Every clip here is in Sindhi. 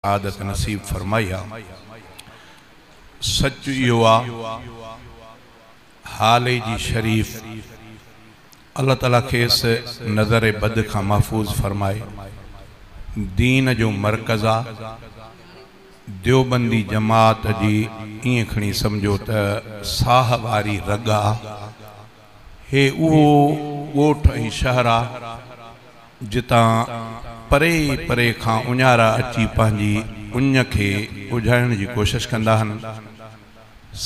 سعادت نصيب فرمائي ها. سچ اهو آ هالي جي شريف الله تعالي کيس نظر بد کان محفوظ فرمائي دين جو مرڪز آ ديوبندي جماعت جي ائين کڻي سمجهو ته ساهه واري رڳ آ. هي اهو ڳوٺ ۽ شهر آ جتان پري پري کان اڃارا اچي پنهنجي اڃ کي اجهائڻ جي ڪوشش ڪندا هن.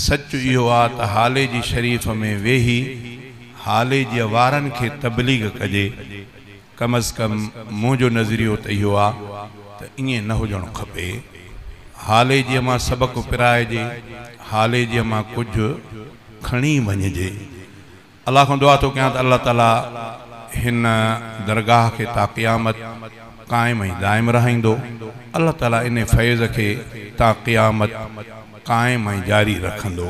سچ اهو آ ته هالي جي شريف ۾ ويهي هالي جي وارن کي تبليغ ڪجي. ڪم از ڪم منهنجو نظريو ته اهو آ ته ائين نه هجڻو کپي. هالي جي مان سبق پرائجي. هالي جي مان ڪجهه. کڻي وڃجي. الله کان دعا ٿو ڪيان ته الله تعالي هن درگاهه کي تا قيامت قائم ۽ دائم رهائيندو. الله تعالي انهي فيض کي تا قيامت قائم ۽ جاري رکندو.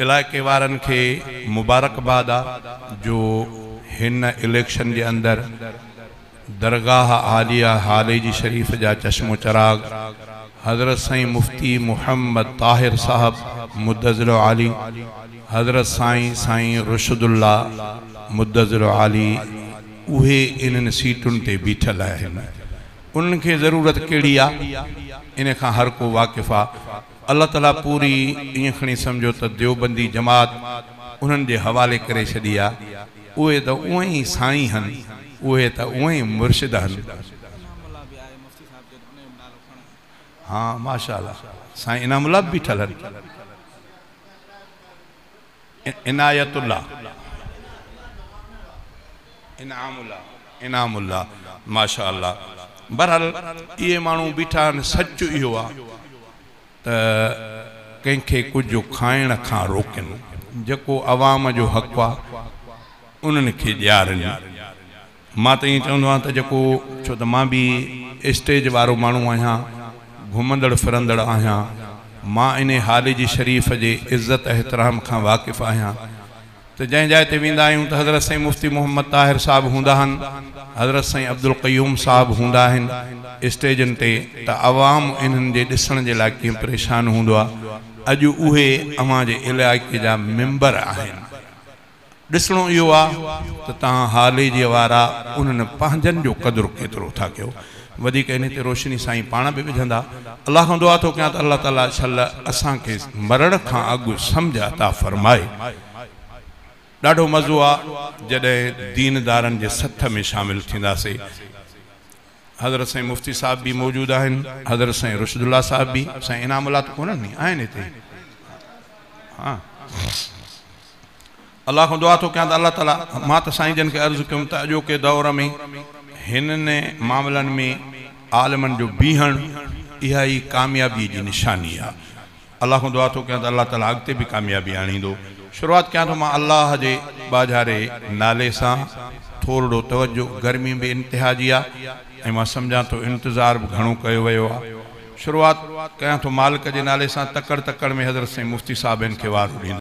علائقي وارن کي مبارڪباد آ جو هن اليڪشن جي اندر درگاهه عاليه هاليجي شريف جا چشم و چراغ حضرت سائين مفتي محمد طاهر صاحب مدظلعالي حضرت سائين سائين رشد الله مدظلعالي اهي انهن سيٽن تي بيٺل آهن انهن کي ضرورت ڪهڙي آ ان کان هر ڪو واقف آ الله تعالي پوري ائين کڻي سمجهو ته ديوبندي جماعت انهن جي حوالي ڪري ڇڏي آ اهي ته اونئن ئي سائين هن اهي ته اونئن ئي مرشد هن. انعام الله به آهي مفتي صاحب جي انهن جو نالو کڻ. ها ماشاءالله سائين انعام الله به بيٺل هن. عنايت الله انعام الله انعام الله ماشاء الله برحال اهي ماڻهو بيٺا آهن سچ اهو آ ته ڪنهن کي ڪجهه کائڻ کان روڪن جيڪو عوام جو حق آ انهن کي ڏيارن مان ته ائين چوندو آهيان ته جيڪو ڇو ته مان به اسٽيج وارو ماڻهو آهيان، گهمندڙ ڦرندڙ آهيان، مان انهي حال جي شريف جي عزت احترام کان واقف آهيان ته جنهن جاء تي ويندا آهيون ته حضرت سائين مفتي محمد طاهر صاحب هوندا آهن، حضرت سائين عبدالقيوم صاحب هوندا آهن اسٽيجن تي ته عوام انهن جي ڏسڻ جي لاء ڪيئن پريشان هوندو آهي، اڄ اهي اوهان جي علائقي جا ميمبر آهن. ڏسڻو اهو آ ته توهان هالي جي وارا انهن پنهنجن جو قدر ڪيترو ٿا ڪيو. وڌيڪ انهي تي روشني سائين پاڻ به وجهندا. الله کان دعا ٿو ڪيان ته الله تعالي شل اسان کي مرڻ کان اڳ سمجهه عطا فرمائي. ڏاڍو مزو آ جڏهن ديندارن جي سٿ ۾ شامل ٿينداسي. حضرت سائين مفتي صاحب به موجود آهن. حضرت سائين رشد الله صاحب به. سائين انعام الله ته ڪونهن ني؟ آهن هتي؟ ها. الله کان دعا ٿو ڪيان ته الله تعالي مان ته سائين جن کي عرض ڪيم ته اڄوڪي دؤر ۾ هنن معاملن ۾ عالمن جو بيهڻ اها ئي ڪاميابي جي نشاني آ الله کان دعا ٿو ڪيان ته الله تعالي اڳتي به ڪاميابي آڻيندو شروعات ڪيان ٿو مان الله جي ٻاجهاري نالي سان ٿورڙو توجه گرمي به انتها جي آ ۽ مان سمجهان ٿو انتظار به گهڻو ڪيو ويو آ شروعات ڪيان ٿو مالڪ جي نالي سان تڪڙ تڪڙ ۾ حضرت سائين مفتي صاحب هن کي وارو ڏيندو.